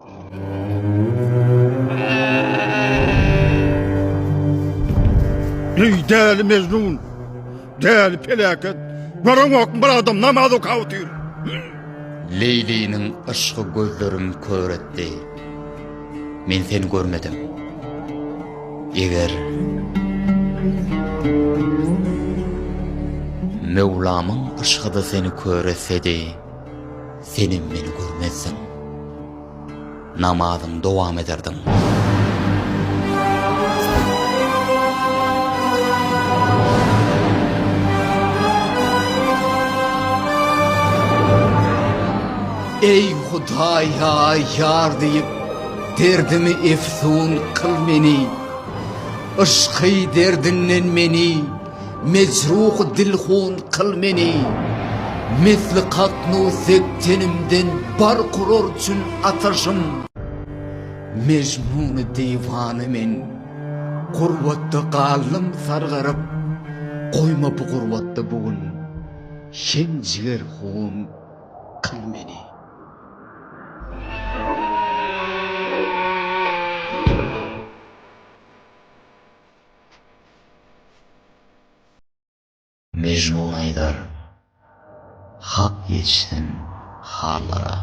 Eý däli Mejnun! Däli peläket! Görüňok bir adam namaz okap otyr. Leýliniň yşgy gözlerim kör etdi. Men seni görmedim. Eger Möwlamyň yşgyda seni kör etsedi. Senem meni görmezdiň. Namazyňy dowam ederdiň. Ey Hudaý ya yar diýip derdimi efsun kıl meni Yşky derdinden meni Mejruh dilhun kyl meni, Misli katnu sek tenimden bark urar çün ataşym. Mejnuny diwana men, Gurbatda galdym sargaryp, Goýma bu gurbatda bu gün, Şem jiger hun kyl meni. Mejnun aýdar, Hak ýetişsin hallara.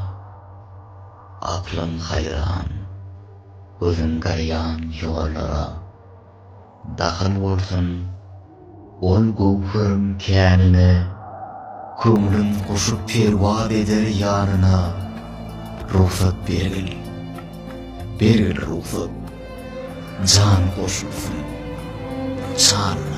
Aklym haýran, gözüm garýan ýollara. Dahyl bolsun. Ol göwheriň känine, Köňlüm guşup perwaz eder ýanyna, Rugsat bergil, bergil rugsat, Jan goşulsyn şanyna.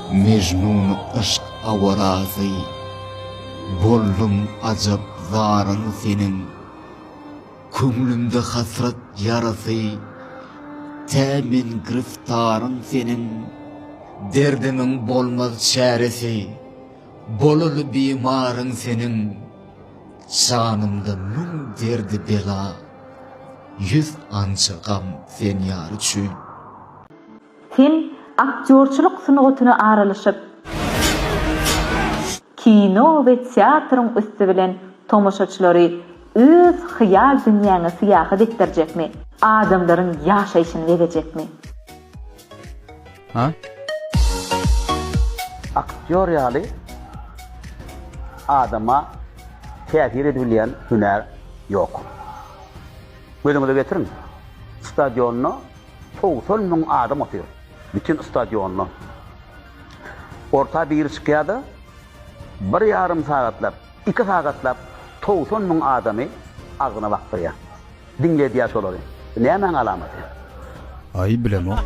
Mejnuny yşk awarasy. Boldum ajap zaryň seniň. Köňlümde hasrat ýarasy. Tä men gyrftaryň seniň. Derdimiň bolmaz çäresi. Bolaly bimaryň seniň. Janymda müň derdi bela. Ýüz ança gam sen ýar üçin. Sen aktýorçylyk sungatyna aralaşyp, kino we teatryň üsti bilen tomaşaçylary öz hyýal dünýäňe syýahat etdirjekmi? Adamlaryň ýaşaýşyny bezejekmi? A. Aktýor ýaly adama täsir edibilýän hünär ýok. Gözüňize getiriň, stadionda Togsan müň adam otyr bütin stadionda. Orta biri çykýada bir ýarym sagatlap, iki sagatlap togsan müň adamy agzyna bakdyrýa. Diňledýa şolary. Bu nämäň alamaty? Aý bilemok.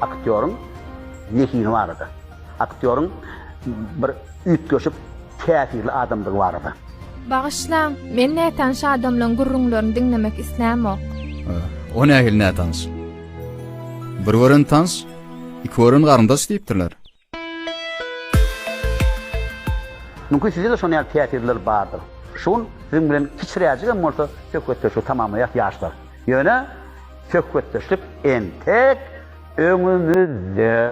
Aktýoryň zehini barada. Aktýoryň bir üýtgeşik, täsirli adamdygy barada. Bagyşlaň, men nätanyş adamlaň gürrüňlerini diňlemek islämok. O nähili nätanyş? Bir gören tans, iki gören garyndaş diýipdirler. Mümkin sizde-de şonuň ýaly täsirler bardyr. Şu gün siziň bilen kiçiräjigem bolsa söhbetdeşligi tamamlaýas ýaşlar. Ýöne söhbetdeşlik entek öňümizde.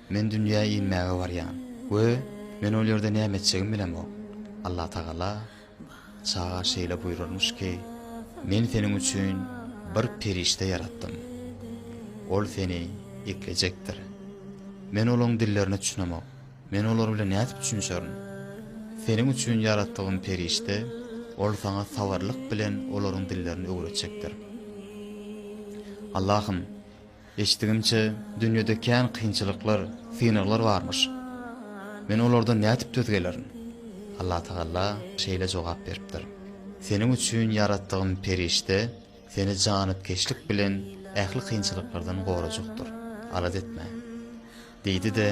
Men dünýä inmäge barýan we men ol ýerde näme etjegimi bilemok. Allatagala çaga şeýle buýrarmyş ki, Men seniň üçin bir perişde ýaratdym. Ol seni eklejekdir. Men olaň dillerine düşünemok. Men olar bilen nädip düşünişerin? Seniň üçin ýaratdygym perişde, ol saňa sabyrlyk bilen olaryň dillerini öwretjekdir. Allahym, Eşitdigimçe, dünýede kän kynçylyklar, synaglar barmyş. Men olardan nädip döz gelerin? Allatagalla şeýle jogap beripdir, Seniň üçin ýaratdygym perişde seni janypkeşlik bilen ähli kynçylyklardan gorajykdyr. Alada etme. Diýdi-de,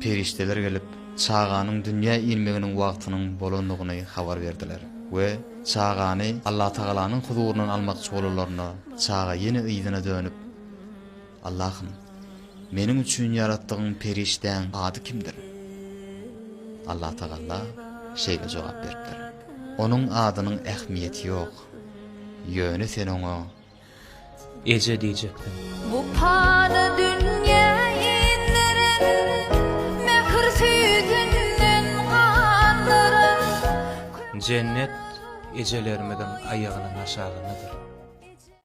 perişdeler gelip, çaganyň dünýä inmeginiň wagtynyň bolandygyny habar berdiler we çagany Allatagalanyň huzuryndan almakçy bolanlarynda, çaga ýene yzyna dönüp, Allahym, meniň üçin ýaratdygyň perişdäň ady kimdir? Allatagalla şeýle jogap beripdir, Onuň adynyň ähmiýeti ýok, ýöne sen oňa Eje diýjekdim. Bu pany dünýä inderen, mähir süýdünden gandyran. Jennet ejelerimiziň aýagynyň aşagyndadyr.